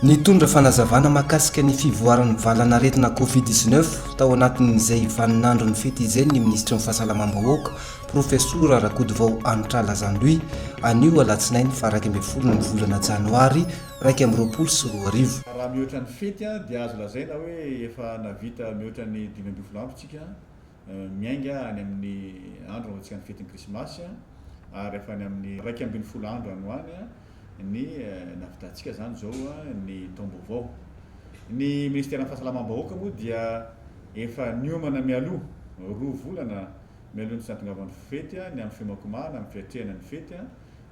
Nitondra fanazavana mahakasika ny fivoaran'ny valanaretina Covid 19 tao anatin'izay vaninandro ny fety izay ny minisitry ny fahasalamam-bahoaka Profesora Rakotovao Anitra Lazandoy anio alatsinainy faha iraika ambin'ny folo ny volana janoary iraika amby roapolo sy roa arivo. Raha mihoatra ny fety dia azo lazaina hoe efa nahavita mihoatra ny dimy ambin'ny folo andro isika miainga any amin'ny andro nanaovantsika ny fetin'ny Krismasy ary efa any amin'ny iraika ambin'ny folo andro any ho any ny nahavitantsika izany izao ny taom-baovao. Ny Minisiteran'ny Fahasalamam-bahoaka moa dia efa niomana mialoha roa volana mialoha ny tsy nahatongavan'ny fety ny amin'ny fiomankomahana, ny fiatrehana ny fety.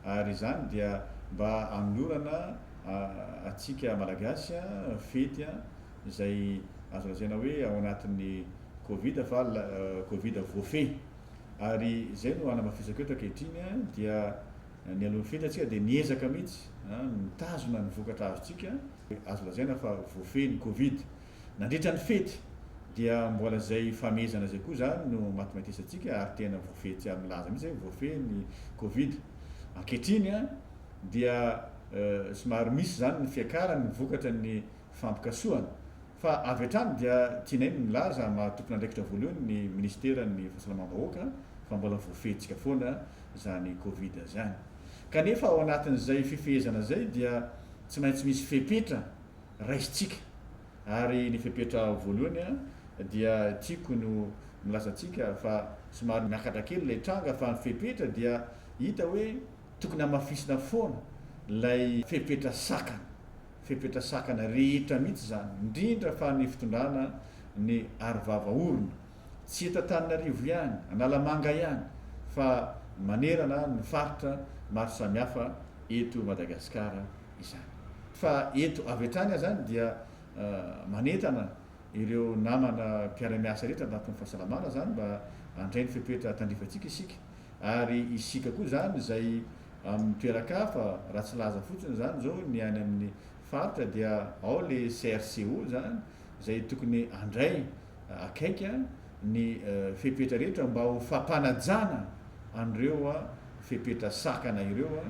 ary izany dia mba hanolorana antsika Malagasy fety izay azo lazaina hoe ao anatin'ny covid fa covid voafehy ary izay no hanamafisako eto ankehitriny dia nialohan'ny fety antsika dia niezaka mihitsy mitazona ny vokatra azontsika azo lazaina fa voafehy ny covid Nandritra ny fety dia mbola izay famehezana izay koa izany no matimatesantsika ary tena voafehintsika milaza mihitsy hoe voafehy ny covid. Ankehitriny dia somary misy izany ny fiakarany ny vokatra ny fampikasohana fa avy hatrany dia tianay ny milaza maha tompon'andraikitra voalohany ny minisiteran'ny fahasalamam-bahoaka fa mbola voafehintsika foana izany covid izany kanefa ao anatin'izay fifehezana izay dia tsy maintsy misy fepetra raisintsika. Ary ny fepetra voalohany dia tiako ny ho milaza antsika fa somary miakatra kely ilay tranga fa ny fepetra dia hita hoe tokony hamafisina foana ilay fepetra sakana, fepetra sakana rehetra mihitsy izany, indrindra fa ny fitondrana ny aro vava orona, tsy eto Antananarivo ihany, Analamanga ihany fa manerana ny faritra maro samihafa eto Madagasikara. izany. Fa eto avy hatrany aho izany dia manentana ireo namana mpiara-miasa rehetra anatin'ny fahasalamana izany mba handray ny fepetra tandrifantsika isika ary isika koa izany izay amin'ny toeran-kafa raha tsy laza fotsiny izany izao ny any amin'ny faritra dia ao le CRCO izany izay tokony handray akaiky ny fepetra rehetra mba ho fampanajana an'ireo fepetra sakana ireo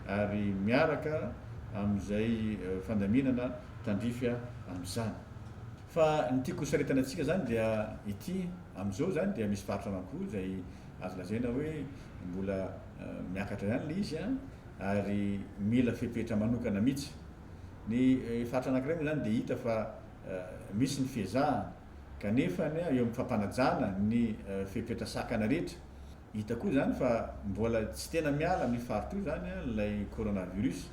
ary miaraka amin'izay fandaminana tandrify amin'izany. Fa ny tiako hosaritana antsika izany dia ity, amin'izao izany dia misy faritra anakiroa izay azo lazaina hoe mbola miakatra ihany ilay izy ary mila fepetra manokana mihitsy. Ny faritra anakiray moa izany dia hita fa misy ny fiezahana kanefa ny eo amin'ny fampanajana ny fepetra sakana rehetra, hita koa izany fa mbola tsy tena miala amin'io faritra io izany ilay coronavirus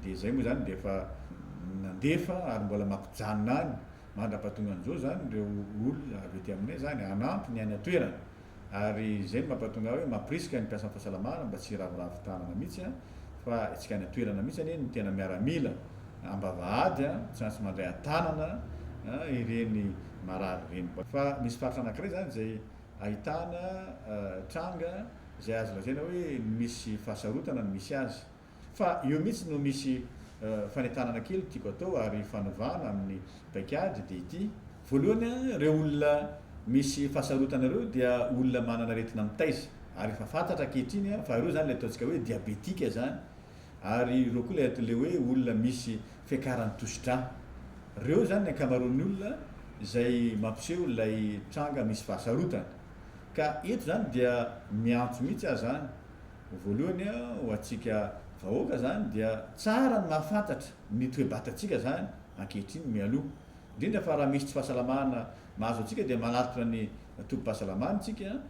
dia izay moa izany dia efa nandefa ary mbola mampijanona any mandra-pahatongan'izao izany ireo olona avy ety aminay izany hanampy ny any an-toerana. Ary izay no mampatonga hoe mampirisika ny mpiasan'ny fahasalamana mba tsy hiraviravy tanana mihitsy an, fa etsika any an-toerana mihitsy anie ny tena miaramila am-bavahady an, tsy maintsy mandray an-tanana an ireny marary ireny. Fa misy faritra anankiray izany izay ahitana tranga izay azo lazaina hoe misy fahasarotana no misy azy. Fa eo mihitsy no misy fanentanana kely tiako atao ary fanovana amin'ny paikady dia ity, voalohany an, ireo olona misy fahasarotana ireo dia olona manana aretina mitaiza ary efa fantatra ankehitriny an, fa ireo izany ilay ataontsika hoe diabetika izany ary ireo koa ilay ilay hoe olona misy fiakaran'ny tosidra. Ireo izany ny ankamaroan'ny olona izay mampiseho ilay tranga misy fahasarotana. Ka eto izany dia miantso mihitsy aho izany, Voalohany ho antsika vahoaka izany dia tsara ny mahafantatra ny toe-batantsika izany ankehitriny mialoha indrindra fa raha misy tsy fahasalamana mahazo antsika dia manatona ny tobim-pahasalamana isika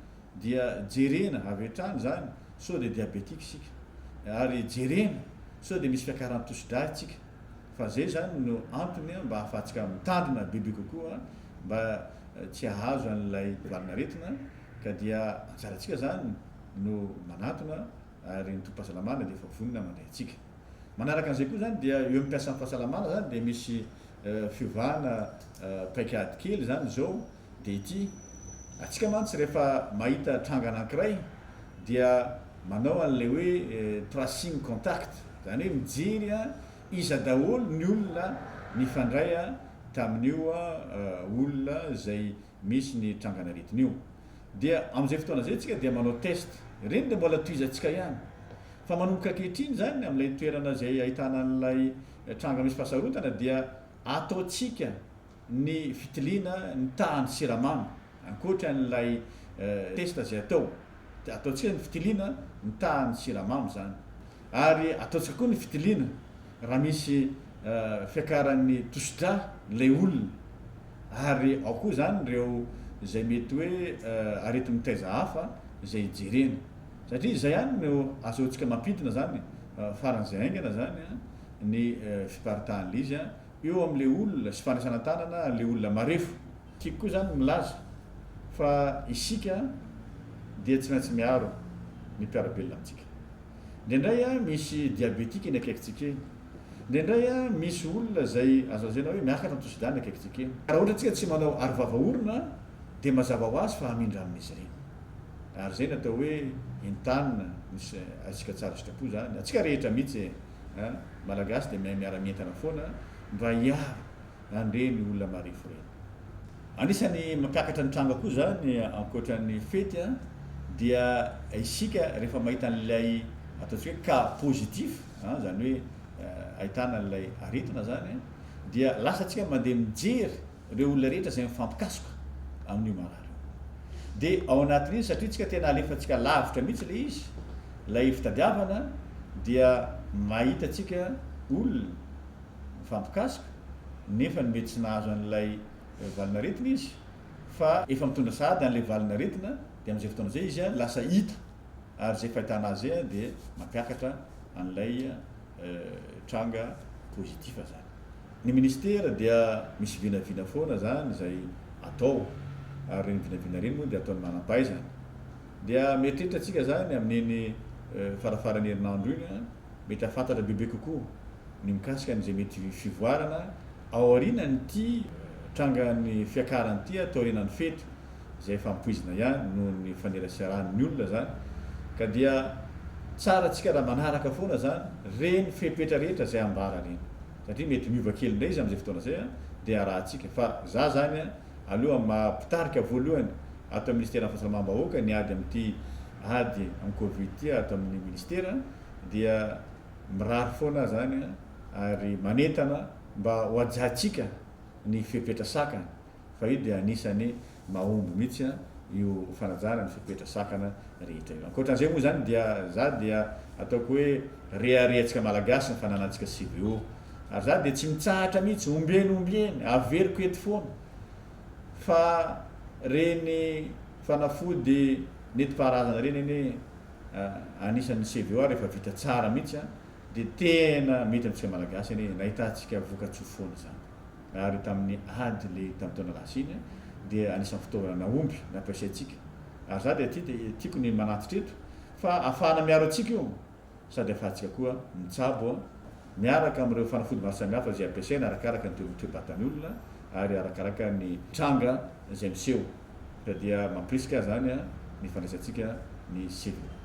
dia jerena avy hatrany izany sao dia diabetika isika ary jerena sao dia misy fiakaran'ny tosi-dra isika fa izay izany no antony mba hahafahantsika mitandrina bebe kokoa mba tsy hahazo an'ilay valanaretina ka dia anjarantsika izany no manantona ary ny tobim-pahasalamana dia efa vonona mandray antsika. Manaraka an'izay koa izany dia eo amin'ny mpiasan'ny fahasalamana izany dia misy fiovana paikady kely izany izao dia ity, antsika mantsy rehefa mahita tranga anankiray dia manao an'ilay hoe tracing contact, izany hoe mijery an iza daholo ny olona nifandray tamin'io olona izay misy ny trangan'aretin'io. Dia amin'izay fotoana izay isika dia manao test. Ireny dia mbola tohizantsika ihany. Fa manomboka ankehitriny izany, amin'ilay toerana izay ahitana an'ilay tranga misy fahasarotana dia ataontsika ny fitiliana ny tahan'ny siramamy, ankoatra an'ilay test izay atao. Dia ataontsika ny fitiliana ny tahan'ny siramamy izany. Ary ataontsika koa ny fitiliana Raha misy fiakaran'ny tosidra ilay olona ary ao koa izany ireo izay mety hoe areti-mitaiza hafa izay jerena. Satria izay ihany no asehontsika mampidina izany faran'izay haingana izany ny fiparitahan'ilay izy eo amin'ilay olona sy fandraisana tanana ilay olona marefo. Tiako koa izany milaza fa isika dia tsy maintsy miaro ny mpiara-belona amintsika. Indraindray an, misy diabetika eny akaikintsika eny. Indraindray an, misy olona izay azo lazaina hoe miakatra ny tosidrà eny akaikintsika eny. Raha ohatra isika tsy manao arovava orona dia mazava ho azy fa hamindra amin'izy ireny. Ary izay no atao hoe entanina, misy azontsika tsara sitrapo izany. Antsika rehetra mihitsy an, Malagasy dia mahay miara-mientana foana mba hiaro Nandre ny olona mareforefo. Anisan'ny mampiakatra ny tranga koa izany ankoatra ny fety dia isika rehefa mahita an'ilay ataontsika hoe cas positif izany hoe ahitana an'ilay aretina izany dia lasa tsika mandeha mijery ireo olona rehetra izay mifampikasoka amin'io marary io. Dia ao anatin'iny satria tsika tena alefantsika lavitra mihitsy ilay izy, ilay fitadiavana dia mahita tsika olona mifampikasoka nefa ny mety tsy nahazo an'ilay valin'aretina izy fa efa mitondra sahady an'ilay valin'aretina dia amin'izay fotoana izay izy lasa hita ary izay fahitana azy izay dia mampiakatra an'ilay tranga positif zany. Ny ministera dia misy vinavina foana zany izay atao ary ireny vinavina ireny moa dia ataon'ny manampahaizana. Dia mieritreritra tsika zany amin'iny farafaran'ny herinandro iny. mety hahafantatra bebe kokoa ny mikasika an'izay mety fivoarana ao aorianan'ity trangan'ny fiakarana ity taorianan'ny fety izay efa ampoizina ihany noho ny faneraserahan'ny olona izany ka dia tsara antsika raha manaraka foana izany reny fepetra rehetra izay ambara reny satria mety miova kely indray izy amin'izay fotoana izay an dia arahantsika fa za zany an aloha maha mpitarika voalohany ato amin'ny ministeran'ny fahasalamam-bahoaka ny ady amin'ity ady amin'ny covid ity ato amin'ny minisitera dia mirary foana izany ary manentana mba ho hajantsika ny fepetra sakana fa io dia anisan'ny mahomby mihitsy io fanajana ny fepetra sakana rehetra io. Ankoatran'izay moa izany dia izaho dia ataoko hoe reharehantsika malagasy ny fananantsika CVO ary izaho dia tsy mitsahatra mihitsy ombieny ombieny averiko eto foana fa reny fanafody netimpaharazana reny anie anisan'ny CVO ary efa vita tsara mihitsy dia tena mety amintsika Malagasy anie nahitantsika voka-tsoa foana izany ary tamin'ny ady le tamin'ny taona lasa iny dia anisan'ny fitaovana nahomby nampiasaintsika ary za dia aty dia tiako ny manatitra eto fa afahana miaro antsika io sady afatsika koa mitsabo, miaraka amin'ireo fanafody maro samihafa izay ampiasaina arakaraka ny toe-batan'ny olona ary arakaraka ny tranga izay miseho ka dia mampirisika izany ny fandraisantsika ny sivina.